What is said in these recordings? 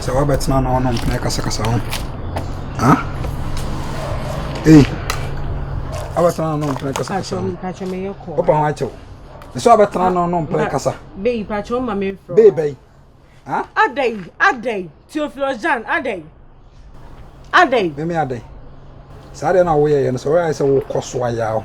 Sɛ wabɛtena na ɔno mpena kasakasa ho. Ha? Ei. Abɛtena na ɔno mpena kasakasa ho. Pacho me yɛ kɔ. Opa ho akyɛw. Sɛ wabɛtena na ɔno mpena kasa. Bei pacho ma me fro. Bei bai. Ha? Adai, adai. Theophilus Jan, adai. Adai. Me me adai. Saa de na wo yɛ yɛ no sɛ wo ayɛ sɛ wo kɔ so ayɛ aho.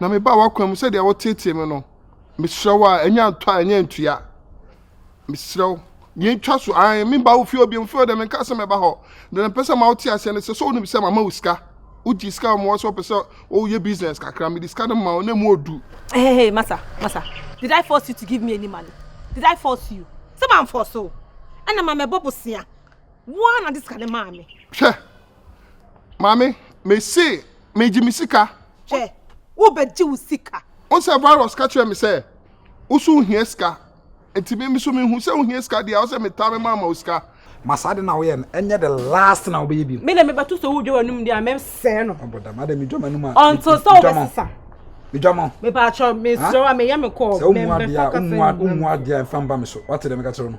na mebaa w'akwan mu sɛdeɛ woteetee me no. Mesrɛ wo a, ɛnyɛ ntɔ a ɛnyɛ ntua. Mesrɛ wo, yɛntwa so. Ae, memba wo fie obiam fie ɔdɛ menka sɛ mɛba hɔ. Deɛ mepɛ sɛ ma wote aseɛ ne sɛ, sɛ wonim sɛ mama wo sika. Wogye sika a wɔma wo sɛ wopɛ sɛ woyɛ business kakra. Mede sika no ma wo na ɛmu ɔdu. Hey, hey, masa, masa, did I force you to give me any money? Did I force you? Sɛ mamfɔɔso wo, ɛna ma mɛbɔ bosea. Wo ara na de sika no maa me. Hwɛ, maame mese megye me sika hwɛ wobɛgye wo sika wo sɛ virus ka kyerɛ me sɛ wo so wohia sika nti me so mehu sɛ wohia sika deɛ wo sɛ metaa me maama wo sika ma saa de na woyɛ no ɛnyɛ the last na wobɛyɛ bi me na mebɛto so wo dwa w'anum deɛ a mɛsɛe no ɔbɔda ma de medwa m'anum a ɔnto sɛ wobɛsesa medwa mo mepaakyɛ mesrɛ wo a meyɛ me kɔɔ sɛ womu adeɛ a womu adeɛ a mfa mba me so wate dɛ meka kyerɛ no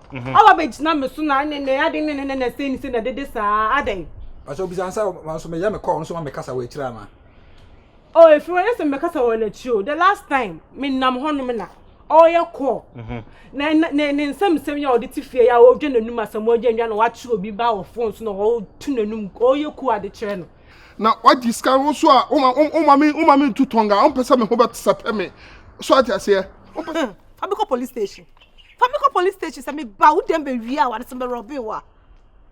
Mhm. Awa bɛ gyina me so na ne ne ade ne ne ne na sɛ ni sɛ na dede saa adɛn. Ɔsɛ obisa nsa wɔn nso meyɛ me kɔɔ nso ma mekasa wɔ akyire ana. Oh efiri wɔn yɛ sɛ mekasa wɔ n'akyire o the last time me nam hɔ nom na ɔyɛ kɔɔ mhm. na ne ne nsɛm nsɛm yɛ ɔde te fie yɛ a ɔdwa n'anum asɛm ɔdwa ndwa na wakyerɛ obi ba wɔ fon so na ɔtu n'anum ɔyɛ ku ade kyerɛ no. na wagye sika wo nso a woma woma me woma me ntu tɔnga wompɛ sɛ me ho bɛsɛpɛ me so ate aseɛ wompɛ sɛ ɔbɛkɔ police station Fa me kɔ police station sɛ meba wo dɛm bɛwie a wɔde sɛ mɛrɔbe wo a.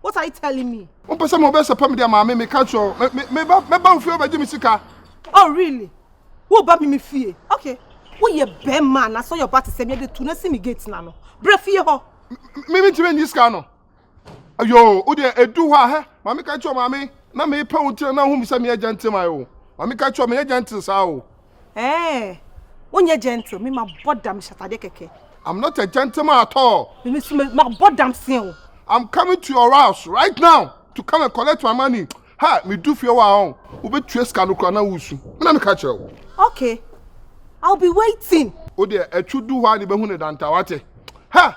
What are you telling me? Wompɛ sɛ mobɛsɛpɛ me de ama me meka kyerɛ mɛba wo fie wobɛgye me sika. Oh really? Woba me me fie? Okay. Woyɛ bɛrima anaasɛ ɔyɛ ɔba te sɛ me ɛde tu na si me gate no ano. Bra fie hɔ. Me mentumi nyi sika no. Ayo, wo deɛ edu hɔ a hɛ, maame ka kyerɛ maame na mepɛ wo ntina na ohum sɛ meyɛ gentleman o. Maame ka kyerɛ meyɛ gentle saa o. Ɛɛ, wonyɛ gentle, me mabɔ dam hyɛ atadeɛ kɛkɛ. I'm not a gentleman at all. Me nso mabɔ dam se o. I'm coming to your house right now to come and collect my money. Ha, medu fie hɔ a ɔn, wobɛtua sika no koraa na woresu. Me na meka kyerɛ wo. Okay, I'll be waiting. Wo deɛ atwu du hɔ a na ibehu ne dantaa, wate? Ha!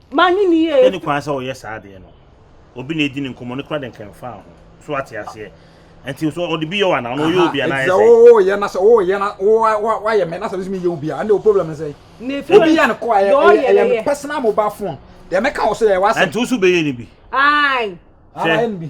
Manye ne yie. Sɛni kwan sɛ ɔyɛ saa adeɛ no obi na edi ne nkɔmmɔ ne kora de nkɛmfa ho so ate aseɛ nti so ɔde bi yɛ wana ɔno ɔyɛ obi anaa ɛsɛ sɛ ɔyɛ na sɛ ɔyɛ na wayɛ mɛ na sɛ ɔsɛ mi yɛ obi a ɛnna o problem ne sɛ obi yɛ ne kɔ ɛyɛ ɛyɛ me personal mobile phone deɛ mɛka wɔ so yɛ wasa ɛnti o so bɛyɛ ne bi ayi sɛ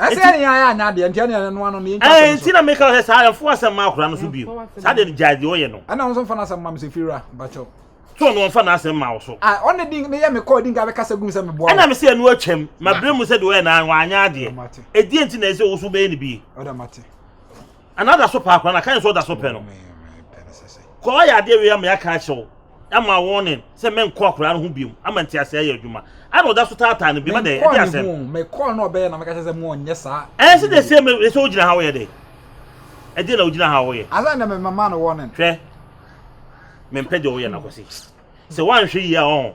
ɛsɛ yɛn yɛn ayɛ anya adeɛ nti ɛne ɛne noa no ne yɛn twa asɛm nti na meka sɛ saa ɛmfo asɛm ma akora no so bio saa deɛ no gyae deɛ ɔyɛ no ɛna nso mfa no asɛm ma me sɛ fira bakyɛw so no ɔmfa n'asɛm ma wo so a ɔne din ne yɛ me kɔɔ din ka bɛkasa gum sɛ meboa ɛna me sɛ ɛno atwam mabrɛ mu sɛ deɛ ɔyɛ na wanyɛ adeɛ ɛdeɛ nti na ɛsɛ wo so bɛyɛ no bie ɔda mate Ana da so paa kora na kan sɛ ɔda so pɛ no. Kɔ ayɛ adeɛ wei ama yɛaka akyerɛ wo ama warning sɛ menkɔ akwadaa no ho biom ama nteaseɛ ayɛ adwuma ana ɔda so taataa no biom dɛ ɛde asɛm mekɔɔ no ɔbɛyɛ na meka kyerɛ sɛ mo ɔnyɛ saa ɛyɛ sɛ de sɛ me sɛ wogyina ha woyɛ dɛ ɛdeɛ na wogyina ha woyɛ asɛ na memama no warning hwɛ mempɛ deɛ woyɛ no akɔse sɛ woanhwɛ yie a ɔho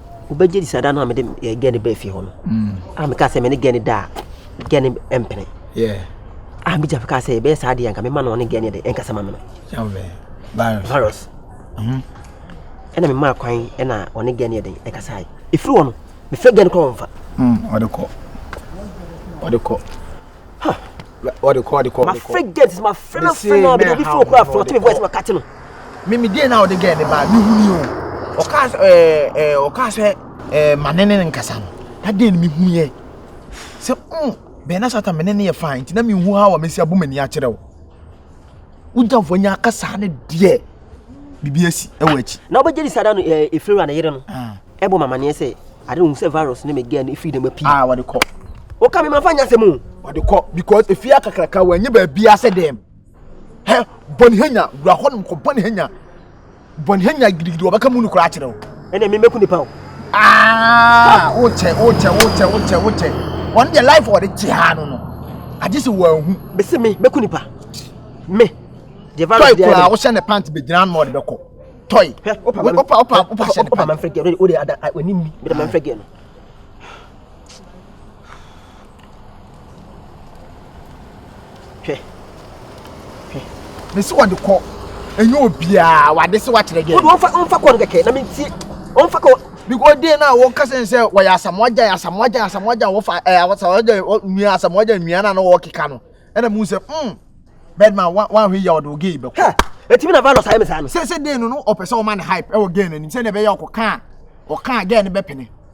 Wobɛgye di sɛ da no a mede eh, gɛne baa fie hɔ no mm. a meka sɛ mene gɛne da a gɛne mpene a megya meka sɛ ɛbɛyɛ saa deɛ anka mema no ɔne gɛne de ɛnkasa ma me no virus mhm. ɛna memaa kwan ɛna ɔne gɛne de ɛkasae ɛfiri hɔ no mefrɛ gɛne kora wɔmfa mm, ɔde kɔ ɔde kɔ ɔde kɔ ɔde kɔ ɔde kɔ. ma fɛ gɛt ma fɛ na fɛ na ɔbɛn bi fún okura fún ɔtí mi voice ma kati no. mímí díẹ̀ náà ɔde gɛt ní ba mi hu ni o ɔka ɛɛ ɛɛ ɔka sɛ ɛɛ ma ne ne nkasa no adé ni mi hu yɛ sɛ ɔn bɛn na sata mi ne ne yɛ fain nti na mi hu ha wɔ mi si abu mi ni akyerɛ o. wogyamfoɔ nya akasa no deɛ biribi asi ɛwɔ akyi na wobɛgye di sada no ɛfiri a ne yere no ɛbɔ mamaneɛ sɛ ade no hu sɛ virus ne megɛ no ɛfiri dɛm apii a wɔde kɔ woka me mamfa nyasɛ mu wɔde kɔ because ɛfie akakraka wɔanyɛ baabia sɛ dɛm hɛ bɔne hanya wura hɔ nom kɔ bɔne hanya bɔn hɛn nyina gidigidi wɔbɛka mu no kor akyerɛ wo. Ɛnna mi mɛku nipa o. Aa wokyɛ wokyɛ wokyɛ wokyɛ wokyɛ wɔn deɛ life wɔde kye ha no no agye sɛ wɔahu. Bese me mɛku nipa me deɛ virus deɛ. Tɔy koraa wohyɛ ne pant bɛgyina ano ɔde bɛkɔ tɔy. Opa opa opa opa hyɛ ne pant. Opa manfrɛ gɛɛ o de ada w'anim mi mi de manfrɛ gɛɛ no. mesi wɔde kɔ ɛnyɛ obiara wade se wakyerɛ deɛ wode wɔmfa wɔmfa kɔ no kɛkɛ na mentie wɔmfa kɔ because deɛ no a wɔka sɛ sɛ wɔyɛ asamoagyan asamoagyan asamoagyan wɔfa eh, asamoagyan nua asamoagyan nua no a na wɔkeka no ɛna mu sɛ mm birdman wanhwɛ yia ɔde ɔgei bɛkɔ ɛtumi na valus ayɛ me saa no sɛ sɛ deɛ no no ɔpɛ sɛ ɔma no hype ɛwɔ gɛ no anim sɛdeɛ ɛbɛyɛ ɔkɔka a ɔka a gɛ no bɛpene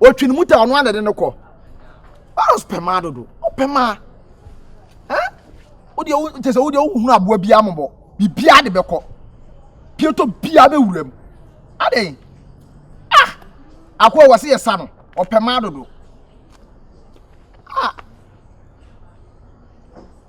ɔtwi no mu ta ɔno anade no kɔ baros pɛ maa dodo ɔpɛ maa wodeɛ kyɛ sɛ wodeɛ wohunu aboa biaa mɔbɔ biribiaa de bɛkɔ pietɔ biaa bɛwura mu adɛn ah akoa wɔ se yɛ sa no ɔpɛ maa dodo ah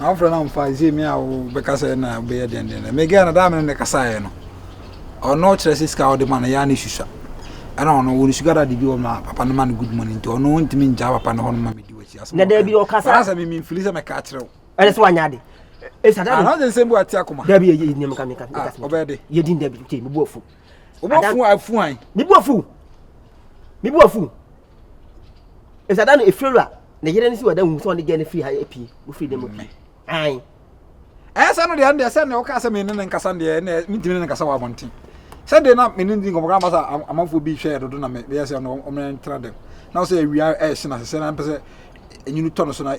Na wofrɛ no amfa ɛsɛ mi a wobɛka sɛ na wobɛyɛ dɛndɛn dɛ mega no daa mene ne kasaeɛ no ɔno kyerɛ sɛ sika wode ma no yɛa ne susua ɛna ɔno wɔ ne sugar daddy bi wɔ ma papa no ma no good money nti ɔno ntumi ngyaa papa no hɔ no ma medi wakyi asɛm na daabi ɔkasa ɔna sɛ mimi mfili sɛ mɛka akyerɛ wo ɛne sɛ wanyɛ ade ana sɛ nsɛm bi wate akoma daabi yɛ yɛ nneɛma ka meka meka sɛ ɔbɛyɛ de yɛ din daabi kyɛ mebu afu wobɛfu afu an mebu afu mebu afu Nsa da no efiri wura ne yere ne si wɔ dan mu sɛ ɔne gɛɛ no firi ha apue wofiri dan mu pue ae. Ɛyɛ sɛ no deɛ ɛndeɛ sɛ nea ɔkaa sɛ mene ne nkasa deɛ ɛnɛ mentumi ne ne nkasa wɔ abɔnten sɛ deɛ na mene ndi nkɔmɔ kama sɛ amanfoɔ bi hwɛɛ dodo na meyɛ sɛ ɔno ɔmena ntra dɛm na sɛ awia ɛɛhye na sɛ na mpɛ sɛ enyini tɔ no so na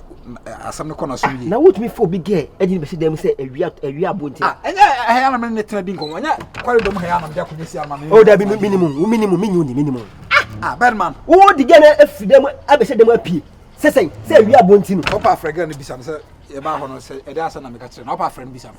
asɛm no kɔ na so yie. na wotumi fo obi gɛɛ ɛde ne bɛsi dan mu sɛ awia awia abo nti. ɛnyɛ ɛhɛn anam ne ne tena di nkɔmɔ ɛnyɛ kɔre dɔm hɛn anam de akonnwa si ama ne. o dabi minimu wo minimu minyi wo ni minimu. ah birdman. wo di gɛɛ na efi dan mu abɛhyɛ dan mu apue sɛsɛn sɛ awia abo nti no. ɔpa afrɛ gɛɛ no bisa no sɛ yɛbaa hɔ no sɛ ɛde asɛm na meka kyerɛ no ɔpa afrɛ no bisa no.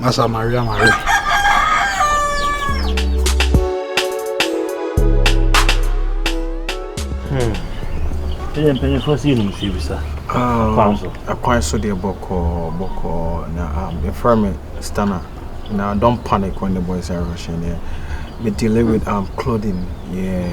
Masa Maria Maria. Hmm. Ɛyɛ mpanyinfoɔ si yɛnum si bisa. Ah, kwan so. Kwan so deɛ bɔkɔɔ bɔkɔɔ na ah, yɛfrɛ me Stana. Now don't panic when the boys are rushing. Yeah, me dealing with um clothing. Yeah.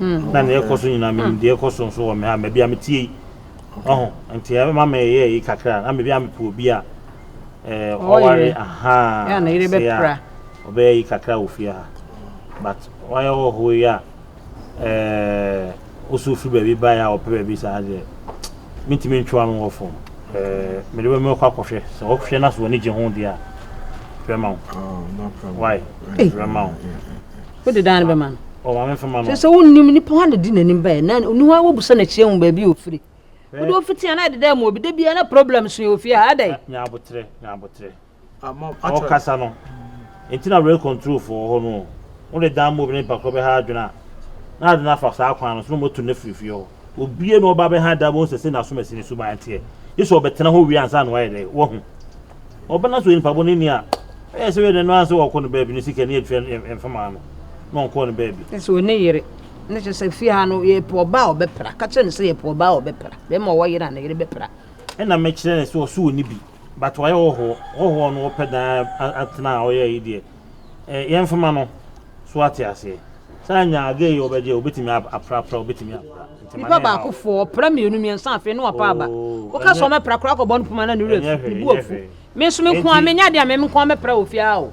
na nea ɛkɔ so nyinaa menim deɛ ɛkɔ so nso wɔ me ha ma bi a metie yi ɔho nti ɛma meyɛ yi kakra na mebi a mepɛ obi a ɔware ahaa sɛ a ɔbɛyɛ yi kakra wɔ fie ha but wayɛ wɔ ho yi a woso firi baabi baeɛ a ɔpɛ baabi saa deɛ mentumi ntwewa no wɔ fam mede bɛmɛ kɔ akɔhwɛ sɛ ɔhwɛ no so wɔ ne gye ho deɛ a bɛma wo why bɛma wo Wode dan no bɛma no. Ɔ maame nfa ma no. Sɛ sɛ wonnim nipa hɔ na di n'anim baeɛ na ɔni hɔ a wobusa n'akyi ahu baabi a ɔfiri. Wode ofiti ana ɛdeda mu obi da biara na problem so yɛ ofie ha adɛn. Nya abotrɛ nya abotrɛ. Ɔkasa no nti na were control fo wɔ hɔ no o. Wode dan ma obi na nipa korɔ bɛha adwene a na ade no afa saa kwan no so na wɔatu no afiri fie hɔ. Obiara na ɔba bɛha da bɛhu sɛ sɛnea asomasi no suban teɛ, gye sɛ ɔbɛtena hɔ wie ansa na wayɛ dɛ? Wahu. Ɔbɛna so nipa bɔne ni a, ɛyɛ sɛ wɛdɛ no ara sɛ ɔkɔ ne baabi no sika ni atua ne mfemaa no na ɔnkɔɔ ne baabi. Ɛsɛ sɛ ɔni yere, na kyerɛ sɛ fie ha no yɛpɛ ɔba a ɔbɛpra, ka kyerɛ no sɛ yɛpɛ ɔba a ɔbɛpra, bɛrima a ɔwɔ yere a ne yere bɛpra. Ɛna mɛkyerɛ no sɛ ɔse ɔni bi, but wayɛ hɔhoɔ, hɔhoɔ no ɔpɛ dan atena a ɔyɛ ayi deɛ, yɛmfema no, so wate aseɛ? Sɛ anya adeɛ yɛ ɔbɛgye a ɔbɛtumi aprapra ɔbɛtumi apra. Nipa baako fo ɔpra mmienu mmiɛnsa afei ne wapa aba. Woka sɛ ɔmɛpra koraa kɔbɔ no poma na ne wura fi ne bu afu. Me nso me nko a menya adeɛ a me nko a mɛpra wɔ fie aa o.